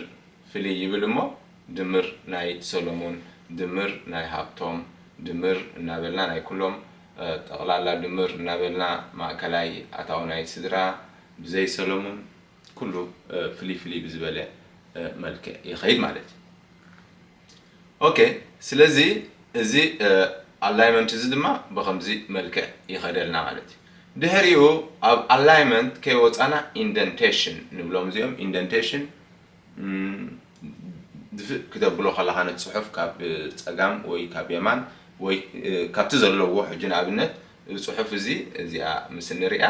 ፍልይ ይብል እሞ ድምር ናይ ሰሎሙን፣ ድምር ናይ ሃብቶም፣ ድምር እናበልና ናይ ኩሎም፣ ጠቕላላ ድምር እናበልና ማእከላይ ኣታዊ ናይ ስድራ ብዘይ ሰሎሙን ኩሉ ፍልይ ፍልይ ብዝበለ መልክዕ ይኸይድ ማለት እዩ። ኦኬ ስለዚ እዚ ኣላይመንት እዚ ድማ ብኸምዚ መልክዕ ይኸደልና ማለት እዩ። ድሕሪኡ ኣብ ኣላይመንት ከይወጻና ኢንደንቴሽን ንብሎም እዚኦም ኢንደንቴሽን ድፍእ ክተብሎ ከለኻ ነቲ ጽሑፍ ካብ ጸጋም ወይ ካብ የማን ወይ ካብቲ ዘለዎ ሕጂ ንኣብነት እዚ ጽሑፍ እዚ እዚኣ ምስ እንርእያ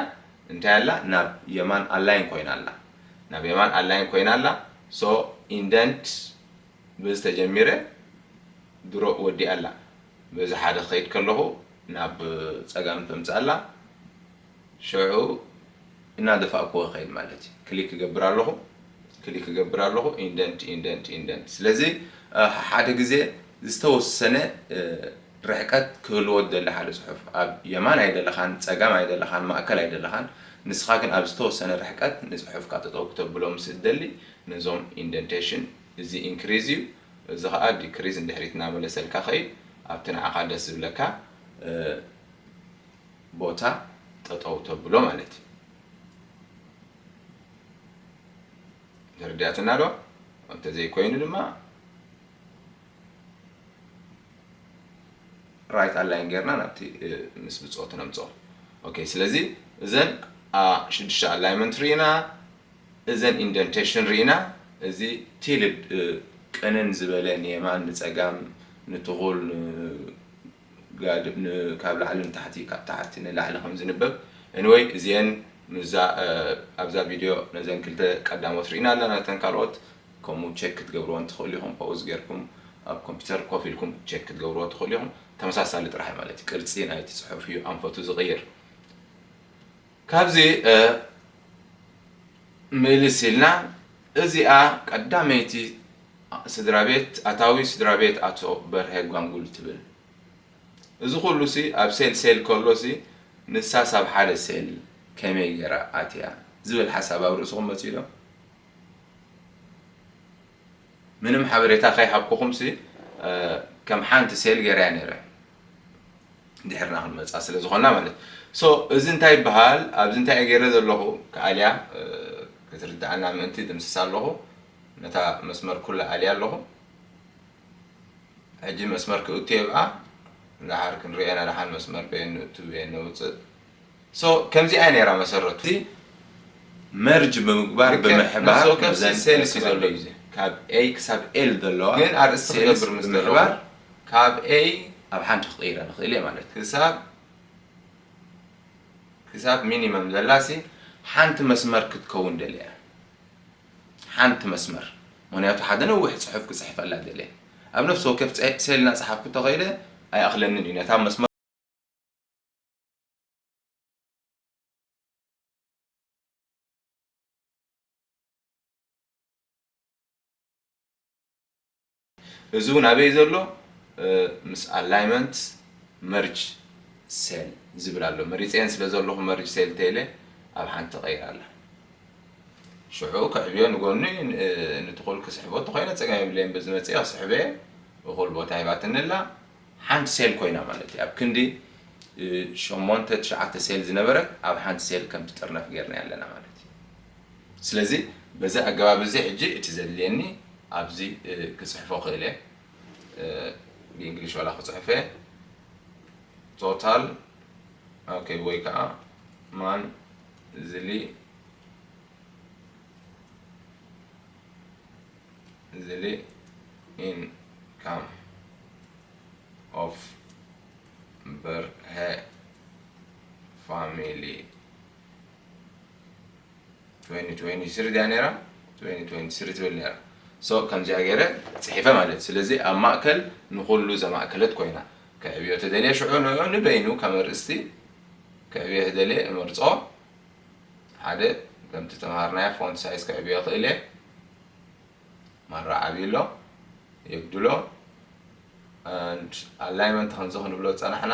እንታይ ኣላ ናብ የማን ኣላይን ኮይና ኣላ ናብ የማን ኣላይን ኮይና ኣላ so indent በዚ ተጀሚረ ድሮ ወዲኣ ኣላ በዚ ሓደ ክኸይድ ከለኹ ናብ ጸጋም ተምጽእ ኣላ ሽዑ እናደፋእኩዎ እኸይድ ማለት እዩ። ክሊክ እገብር ኣለኹ፣ ክሊክ እገብር ኣለኹ፣ ኢንደንት፣ ኢንደንት፣ ኢንደንት። ስለዚ ሓሓደ ግዜ ዝተወሰነ ርሕቀት ክህልዎ ዝደሊ ሓደ ጽሑፍ፣ ኣብ የማን ኣይደለኻን፣ ጸጋም ኣይደለኻን፣ ማእከል ኣይደለኻን፣ ንስኻ ግን ኣብ ዝተወሰነ ርሕቀት ንጽሑፍካ ጠጠው ክተብሎ ምስ እትደሊ፣ ነዞም ኢንደንቴሽን፣ እዚ ኢንክሪዝ እዩ፣ እዚ ኸኣ ዲክሪዝ ንድሕሪት እናመለሰልካ ከይድ፣ ኣብቲ ንዓኻ ደስ ዝብለካ፣ ቦታ ጠጠው ተብሎ ማለት እዩ ተረዲኣትና ዶ እንተዘይኮይኑ ድማ ራይት ኣላይን ጌርና ናብቲ ምስ ብፆት ነምፅኦ ኦኬ ስለዚ እዘን ሽዱሽተ ኣላይመንት ርኢና እዘን ኢንደንቴሽን ርኢና እዚ ቲልድ ቅንን ዝበለ ንየማን ንፀጋም ንትኹል ጋድ ን ካብ ላዕሊ ንታሕቲ ካብ ታሕቲ ንላዕሊ ከም ዝንበብ Anyway እዚኤን ምስዛ ኣብዛ ቪድዮ ነዘን ክልተ ቀዳሞት ሪኢና ኣለና ነተን ካልኦት ከምኡ ቸክ ክትገብርወን ትክእሉ ኢኩም ፖውዝ ጌርኩም ኣብ ኮምፒተር ኮፍ ኢልኩም ቸክ ክትገብርዎ ትክእሉ ኢኩም ተመሳሳሊ ጥራሕ እዩ ማለት እዩ ቅርጺ ናይቲ ጽሑፍ እዩ ኣንፈቱ ዝቅይር ካብዚ ምልስ ኢልና እዚኣ ቀዳመይቲ ስድራቤት ኣታዊ ስድራቤት ኣቶ በርሀ ጓንጉል ትብል። እዚ ኩሉሲ ኣብ ሴል ሴል ከሎሲ ንሳስ ኣብ ሓደ ሴል ከመይ ጌራ ኣትያ ዝብል ሓሳብ ኣብ ርእስኹም መጺኡዶ? ምንም ሓበሬታ ከይሃብኩኹምሲ ከም ሓንቲ ሴል ገይረያ ነይረ ድሕርና ክንመጻ ስለ ዝኾና ማለት so እዚ እንታይ ይበሃል ኣብዚ እንታይ እየ ገይረ ዘለኹ ክኣልያ ክትርድኣና ምእንቲ ድምስሳ ኣለኹ ነታ መስመር ኩላ ኣልያ ኣለኹ ሕጂ መስመር ክእቱ የብኣ ንደሓር ክንሪኦ ኢና ደሓን መስመር በየን ንእቱ በየን ነውፅእ So ከምዚኣ ነይራ መሰረቱ። እዚ መርጅ ብምግባር ብምሕባር እዘን ሴልስ እዩ ዘሎ እዚ ካብ A ክሳብ L ዘለዋ ግን ኣርእስቲ ክገብር ምስ ደለኹ ብምሕባር ካብ A ኣብ ሓንቲ ክቕይራ ንኽእል እየ ማለት እዩ። ክሳብ ክሳብ ሚኒመም ዘላ ሲ ሓንቲ መስመር ክትከውን ደልየ እያ ሓንቲ መስመር ምኽንያቱ ሓደ ነዊሕ ጽሑፍ ክጽሕፈላ ደልየ ኣብ ነፍሲ ወከፍ ሴል እናጸሓፍኩ ተኸይደ ኣይኣኽለንን እዩ ነታ መስመር እዚ እውን ኣበይ ዘሎ ምስ ኣላይመንት መርጅ ሴል ዝብል ኣሎ መሪፀን ስለ ዘለኹ መርጅ ሴል ቴለ ኣብ ሓንቲ ቀይር ኣላ ሽዑ ክዕብዮ ንጎኑ ንትኹል ክስሕቦ ተኮይነ ፀገም የብለይን በዚ መፅአ ክስሕበ እኹል ቦታ ሂባትኒ ኣላ ሓንቲ ሴል ኮይና ማለት እዩ። ኣብ ክንዲ ሸሞንተ ትሽዓተ ሴል ዝነበረት ኣብ ሓንቲ ሴል ከም ትጥርነፍ ጌርናያ ኣለና ማለት እዩ። ስለዚ በዚ ኣገባብ እዚ ሕጂ እቲ ዘድልየኒ ኣብዚ ክጽሕፎ ክእል እየ። ብእንግሊሽ ዋላ ክጽሕፍ እየ ቶታል ኦኬ ወይ ከኣ ማን ዝሊ ዝሊ ኢን ካም ኦፍ በርሀ ፋሚሊ 2023 ድያ ነራ 2023 ትብል ነራ ሶ ከምዚኣ ገይረ ፅሒፈ ማለት ስለዚ ኣብ ማእከል ንኩሉ ዘማእከለት ኮይና ከዕብዮ ተደልየ ሽዑ ንዑ ንበይኑ ከም ኣርእስቲ ከዕብዮ ተደልየ እመርፆ ሓደ ከምቲ ዝተምሃርናዮ ፎንት ሳይዝ ከዕብዮ ይኽእል እየ ማራ ዓብዩ ኣሎ የጉድሎ and alignment ከምዚ ክንብሎ ዝጸናሕና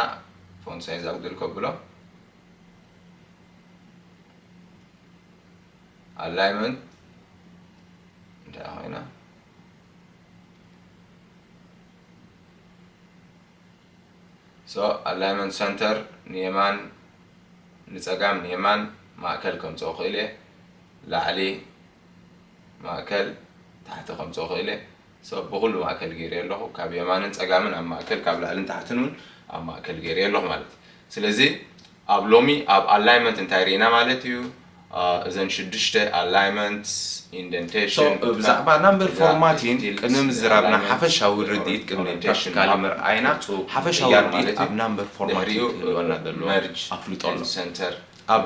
ፎንት ሳይዝ ኣጉድል ከብሎ alignment እንታይ ኮይና So Alignment Center ንየማን ንጸጋም ንየማን ማእከል ከምጽኦ እኽእል እየ ላዕሊ ማእከል ታሕቲ ከምጽኦ እኽእል እየ so ብኹሉ ማእከል ገይረዮ ኣለኹ ካብ የማንን ጸጋምን ኣብ ማእከል ካብ ላዕልን ታሕትን ውን ኣብ ማእከል ገይረዮ ኣለኹ ማለት እዩ ስለዚ ኣብ ሎሚ ኣብ ኣላይመንት እንታይ ሪኢና ማለት እዩ እዘን ሽዱሽተ ኣላይመንትስ ኢንደንቴሽን So ብዛዕባ ናምበር ፎርማቲን ቅድሚ ምዝራብና ሓፈሻዊ ርድኢት ቅድሚ ፕራክቲካሊ ምርኣይና ሓፈሻዊ ርድኢት ኣብ ናምበር ፎርማቲን ክህልወና ዘለዎ ኣፍልጦ ኣሎ ኣብ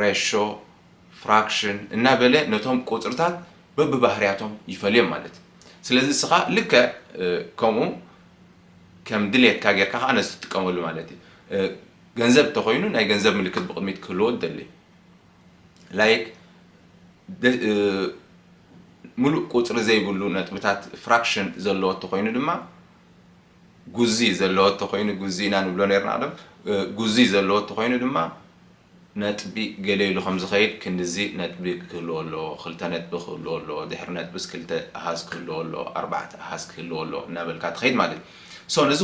ሬሾ፣ ፍራክሽን፣ እናበለ ነቶም ቁጽርታት በብባህርያቶም ይፈልዮም ማለት እዩ። ስለዚ እስኻ ልክዕ ከምኡ ከም ድሌትካ ጌርካ ከኣ ነዚ ትጥቀመሉ ማለት እዩ። ገንዘብ እንተኾይኑ ናይ ገንዘብ ምልክት ብቕድሚት ክህልዎ ትደሊ። ላይክ ምሉእ ቁጽሪ ዘይብሉ ነጥብታት ፍራክሽን ዘለዎ እንተኾይኑ ድማ ጉዚ ዘለዎ እንተኾይኑ ጉዚ ኢና ንብሎ ነርና ቅድም ጉዚ ዘለዎ እንተኾይኑ ድማ ነጥቢ ገለ ኢሉ ከም ዝኸይድ ክንድዚ ነጥቢ ክህልዎ ኣለዎ፣ ክልተ ነጥቢ ክህልዎ ኣለዎ፣ ድሕሪ ነጥብስ ክልተ ኣሃዝ ክህልዎ ኣለዎ፣ ኣርባዕተ ኣሃዝ ክህልዎ ኣለዎ እናበልካ ትኸይድ ማለት እዩ። so ነዚ።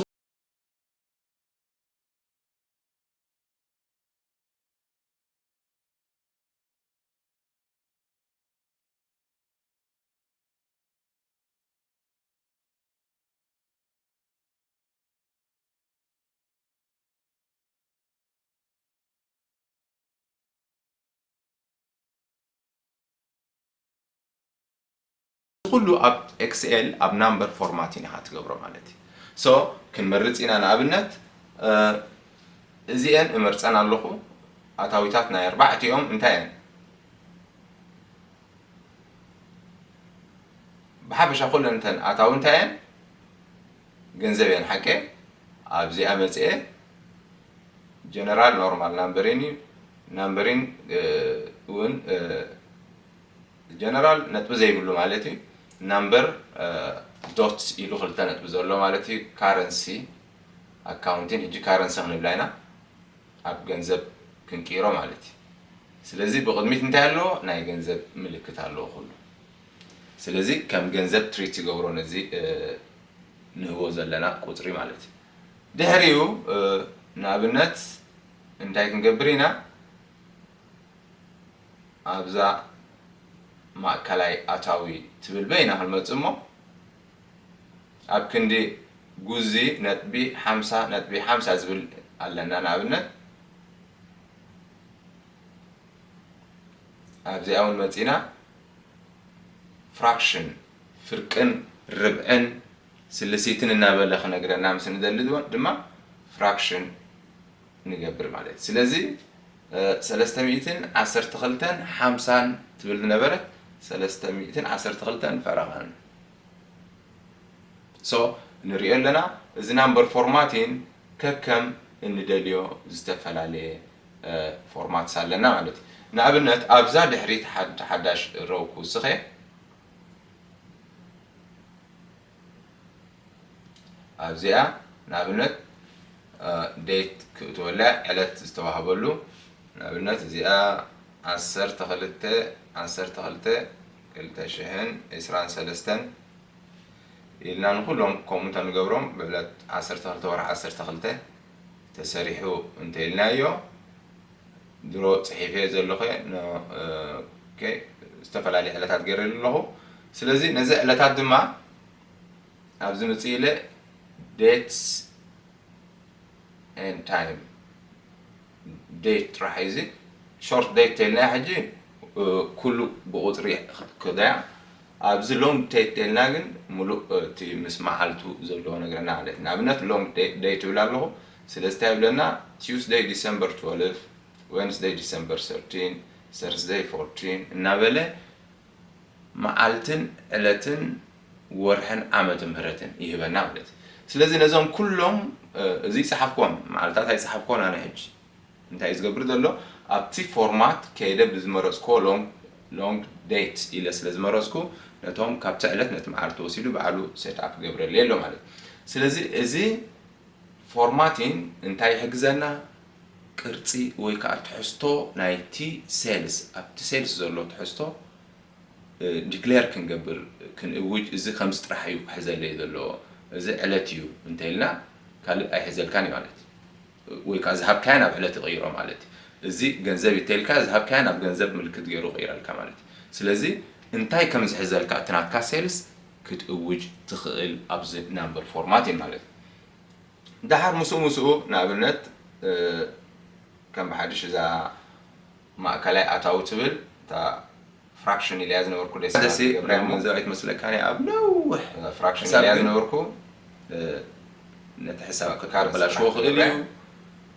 እዚ ኩሉ ኣብ ኤክስኤል ኣብ ናምበር ፎርማት ኢና ትገብሮ ማለት እዩ ሶ ክንመርፅ ኢና ንኣብነት እዚኤን እመርፀን ኣለኹ ኣታዊታት ናይ ኣርባዕቲኦም እንታይ እየን ብሓፈሻ ኩለን እንተን ኣታዊ እንታይ እየን ገንዘብ እየን ሓቀ ኣብዚኣ መፅኤ ጀነራል ኖርማል ናምበሪን እዩ ናምበሪን እውን ጀነራል ነጥቢ ዘይብሉ ማለት እዩ ናምበር ዶት ኢሉ ክልተ ነጥቢ ዘሎ ማለት እዩ ካረንሲ ኣካውንቲን ሕጂ ካረንሲ ክንብላ ኢና ኣብ ገንዘብ ክንቅይሮ ማለት እዩ ስለዚ ብቕድሚት እንታይ ኣለዎ ናይ ገንዘብ ምልክት ኣለዎ ኩሉ ስለዚ ከም ገንዘብ ትሪት ይገብሮ ነዚ ንህቦ ዘለና ቁፅሪ ማለት እዩ ድሕሪኡ ንኣብነት እንታይ ክንገብር ኢና ኣብዛ ማእከላይ ኣታዊ ትብል በይና ክንመጽእ እሞ ኣብ ክንዲ ጉዚ ነጥቢ ሓምሳ ነጥቢ ሓምሳ ዝብል ኣለና ንኣብነት ኣብዚኣ እውን መጺና ፍራክሽን ፍርቅን ርብዕን ስልሲትን እናበለ ክነግረና ምስ ንደሊ ድማ ፍራክሽን ንገብር ማለት እዩ። ስለዚ ሰለስተ ሚእትን ዓሰርተ ክልተን ሓምሳን ትብል ዝነበረት ሰለስተ ሚእትን ዓሰርተ ክልተን ፈረቓን ሶ ንሪኦ ኣለና። እዚ ናምበር ፎርማቲን ከከም እንደልዮ ዝተፈላለየ ፎርማትስ ኣለና ማለት እዩ። ንኣብነት ኣብዛ ድሕሪት ሓዳሽ ሮው ክውስኽ እየ። ኣብዚኣ ንኣብነት ዴት ክእትወላ ዕለት ዝተዋህበሉ ንኣብነት እዚኣ ዓሰርተ ክልተ ዓሰርተ ክልተ ክልተ ሽሕን ዕስራን ሰለስተን ኢልና ንኩሎም ከምኡ እንተንገብሮም ብዕለት ዓሰርተ ክልተ ወርሒ ዓሰርተ ክልተ ተሰሪሑ እንተኢልናዮ ድሮ ጽሒፈዮ ዘለኹ'የ ን ኦኬ ዝተፈላለየ ዕለታት ገይረሉ ኣለኹ ስለዚ ነዚ ዕለታት ድማ ኣብዚ ምጽእ ኢለ dates and time date ጥራሕ እዩ እዚ short date ተይልናያ ሕጂ ኩሉ ብቁጽሪ ክትከዶያ ኣብዚ long date ተይልና ግን ምሉእ እቲ ምስ መዓልቱ ዘለዎ ነገርና ማለት ንኣብነት long date ትብል ኣለኹ ስለዚ ታይ ይብለና Tuesday December twelve Wednesday December thirteen Thursday fourteen እናበለ መዓልትን ዕለትን ወርሕን ዓመተ ምህረትን ይህበና ማለት እዩ ስለዚ ነዞም ኩሎም እዚ ይጸሓፍኮን መዓልታት ኣይጸሓፍኮን ኣነ ሕጂ እንታይ እዩ ዝገብር ዘሎ ኣብቲ ፎርማት ከይደ ብዝመረጽኮ long long date ኢለ ስለ ዝመረጽኩ ነቶም ካብቲ ዕለት ነቲ መዓልቲ ወሲዱ በዓሉ set up ይገብረለይ ኣሎ ማለት እዩ ስለዚ እዚ ፎርማቲን እንታይ ይሕግዘና? ቅርጺ ወይ ከኣ ትሕዝቶ ናይቲ ሴልስ፣ ኣብቲ ሴልስ ዘሎ ትሕዝቶ ዲክለር ክንገብር፣ ክንእውጅ፣ እዚ ከምዚ ጥራሕ እዩ ክሕዘለይ ዘለዎ፣ እዚ ዕለት እዩ እንተኢልና ካልእ ኣይሕዘልካን እዩ ማለት እዩ። ወይ ከኣ ዝሃብካያ ናብ ዕለት ይቕይሮ ማለት እዩ። እዚ ገንዘብ እዩ እንተኢልካያ ዝሃብካያ ናብ ገንዘብ ምልክት ገይሩ ይቕይረልካ ማለት እዩ። ስለዚ እንታይ ከም ዝሕዘልካ እቲ ናትካ ሴልስ ክትእውጅ ትኽእል ኣብዚ ናምበር ፎርማት እዩ ማለት እዩ። ደሓር ምስኡ ምስኡ ንኣብነት ከም ብሓድሽ እዛ ማእከላይ ኣታዊ ትብል እታ ፍራክሽን ኢለያ ዝነበርኩ ደስ ደስ ናይ ገንዘብ ኣይትመስለካን እያ ኣብ ነውሕ ፍራክሽን ኢለያ ዝነበርኩ ነቲ ሕሳብ ከበላሽዎ ክእል እዩ።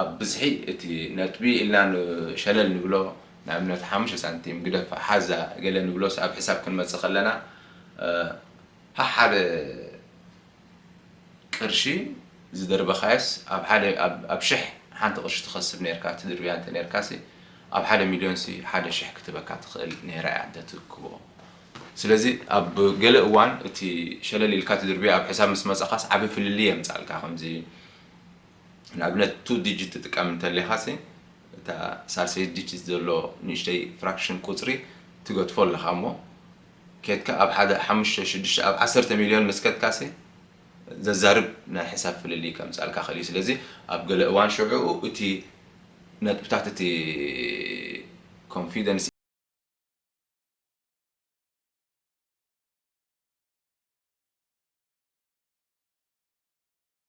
ኣብ ብዝሒ እቲ ነጥቢ ኢልና ን ሸለል ንብሎ ንኣብነት ሓሙሽተ ሳንቲም ግደፋ ሓዛ ገለ ንብሎስ ኣብ ሕሳብ ክንመጽእ ከለና ሐሓደ ቅርሺ ዝደርበኻዮስ ኣብ ሓደ ኣብ ሽሕ ሓንቲ ቅርሺ ትኸስብ ኔርካ ትድርብያ እንተ ኔርካሲ ኣብ ሓደ ሚልዮንሲ ሓደ ሽሕ ክትህበካ ትኽእል ኔራ እያ እንተ ትእክቦ ስለዚ ኣብ ገለ እዋን እቲ ሸለል ኢልካ ትድርብዮ ኣብ ሕሳብ ምስ መጻኻስ ዓቢ ፍልልይ የምጻልካ ከምዚ ንኣብነት ቱ ዲጂት ትጥቀም እንተሊኻሲ እታ ሳልሰይቲ ዲጂት ዘሎ ንእሽተይ ፍራክሽን ቁጽሪ ትገድፎ ኣለኻ እሞ ኬድካ ኣብ ሓደ ሓሙሽተ ሽዱሽተ ኣብ ዓሰርተ ሚልዮን ምስ ከድካሲ ዘዛርብ ናይ ሕሳብ ፍልልይ ከምጽኣልካ ክእል እዩ ስለዚ ኣብ ገለ እዋን ሽዑኡ እቲ ነጥብታት እቲ ኮንፊደንስ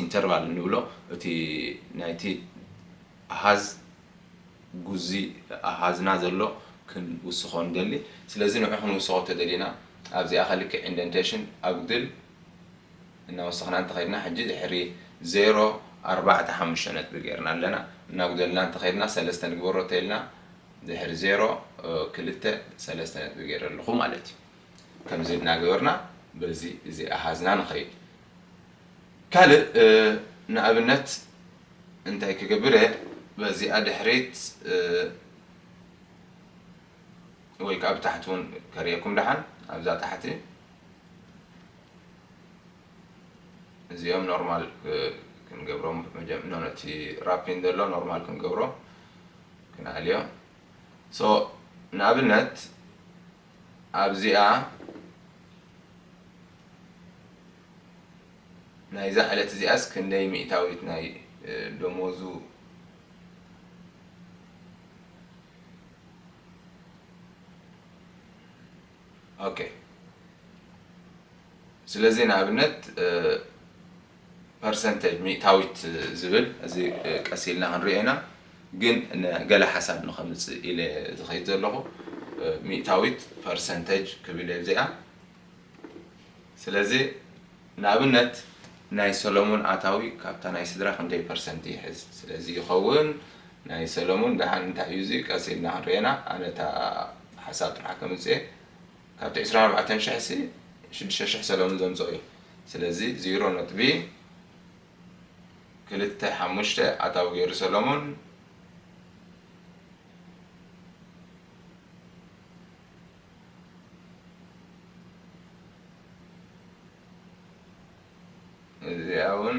ኢንተርቫል እንብሎ እቲ ናይቲ ኣሃዝ ጉዚ ኣሃዝና ዘሎ ክንውስኾ ንደሊ። ስለዚ ንዑ ክንውስኾ እንተደሊና ኣብዚኣ ከልኪ ኢንደንቴሽን ኣጉድል እናወሰኽና እንተኸድና ሕጂ ድሕሪ ዜሮ ኣርባዕተ ሓሙሽተ ነጥቢ ገርና ኣለና። እናጉደልና እንተኸድና ሰለስተ ንግበሮ ተይልና ድሕሪ ዜሮ ክልተ ሰለስተ ነጥቢ ገረ ኣለኹ ማለት እዩ። ከምዚ እናገበርና በዚ እዚ ኣሃዝና ንኸይድ። ካልእ ንኣብነት እንታይ ክገብር'የ በዚኣ ድሕሪት ወይ ከኣ ብታሕቲ ውን ከርእየኩም ደሓን ኣብዛ ታሕቲ እዚኦም ኖርማል ክንገብሮም መጀመ ነቲ ራፒን ዘሎ ኖርማል ክንገብሮ ክንኣልዮ ሶ ንኣብነት ኣብዚኣ ናይዛ ዕለት እዚኣስ ክንደይ ሚእታዊት ናይ ደሞዙ ኦኬ ስለዚ ንኣብነት ፐርሰንተጅ ሚእታዊት ዝብል እዚ ቀስ ኢልና ክንሪኦ ኢና ግን ገለ ሓሳብ ንከምጽእ ኢለ ዝከይድ ዘለኩ ሚእታዊት ፐርሰንተጅ ክብል እየ ኣብዚኣ ስለዚ ንኣብነት ናይ ሰለሙን ኣታዊ ካብታ ናይ ስድራ ክንደይ ፐርሰንት ይሕዝ ስለዚ ይከውን ናይ ሰለሙን ደሓን እንታይ እዩ እዚ ቀስ ኢልና ክንሪኦ ኢና ኣነ እታ ሓሳብ ጥራሕ ከምጽእ እየ ካብቲ ዕስራን ኣርባዕተን ሽሕ ሲ ሽዱሽተ ሽሕ ሰለሙን ዘምጽኦ እዩ ስለዚ ዚሮ ነጥቢ ክልተ ሓሙሽተ ኣታዊ ገይሩ ሰለሙን እዚኣ እውን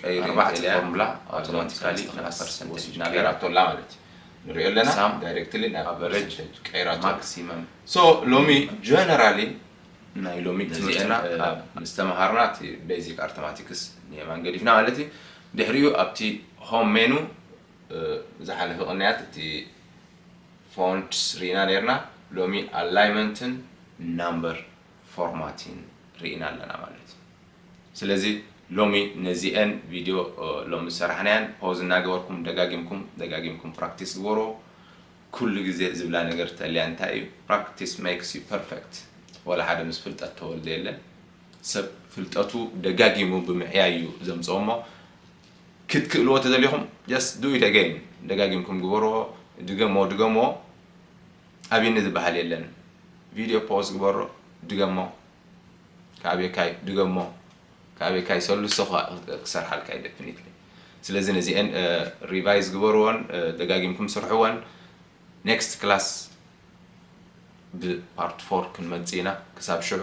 ቀይሪ ኣርባዕተ እንተልያ ፎርሙላ ኣውቶማቲካሊ ኣውቶማቲካሊ ናብ ናብ ፐርሰንቴጅ ፐርሰንቴጅ ናበይ ቀይራቶ ኣላ ማለት እዩ ንሪኦ ኣለና ሳም ዳይሬክትሊ ናብ ኣቨሬጅ ፐርሰንቴጅ ቀይራቶ ኣላ ማክሲመም ሶ ሎሚ ጀነራሊ ናይ ሎሚ ነዚኤን ትምህርትና እ ኣብ ምስ ተመሃርና እቲ ቤዚክ ኣርተማቲክስ ንየማን ገዲፍና ማለት እዩ ድሕሪኡ ኣብቲ ሆም ሜኑ እ ዝሓለፈ ቅንያት እቲ ፎንትስ ርኢና ኔርና ሎሚ ኣላይመንትን ናምበር ፎርማቲን ርኢና ኣለና ማለት እዩ። ስለዚ ሎሚ ነዚኤን ቪድዮ ሎሚ ዝሰራሕናየን ፖዝ እናገበርኩም ደጋጊምኩም ደጋጊምኩም ፕራክቲስ ግበርዎ። ኩሉ ግዜ ዝብላ ነገር ተልያ እንታይ እዩ ፕራክቲስ ሜክስ ዩ ፐርፌክት ዋላ ሓደ ምስ ፍልጠት ተወልደ የለን። ሰብ ፍልጠቱ ደጋጊሙ ብምዕያይ እዩ ዘምፅኦ እሞ ክትክእልዎ ተደሊኹም ጀስት ዱ ኢት ኣገይን ደጋጊምኩም ግበርዎ ድገምዎ ድገምዎ ኣብየኒ ዝባሃል የለን ቪድዮ ፖውዝ ግበሮ ድገሞ ክኣብየካዩ ድገሞ ክኣብየካዩ ሰሉሰ ክሰርሓልካ ዩ ደፊኒትሊ ስለዚ ነዚኤን ሪቫይዝ ግበርዎን ደጋጊምኩም ስርሕዎን ኔክስት ክላስ ብፓርት ፎር ክንመጽእ ኢና ክሳብ ሽዑ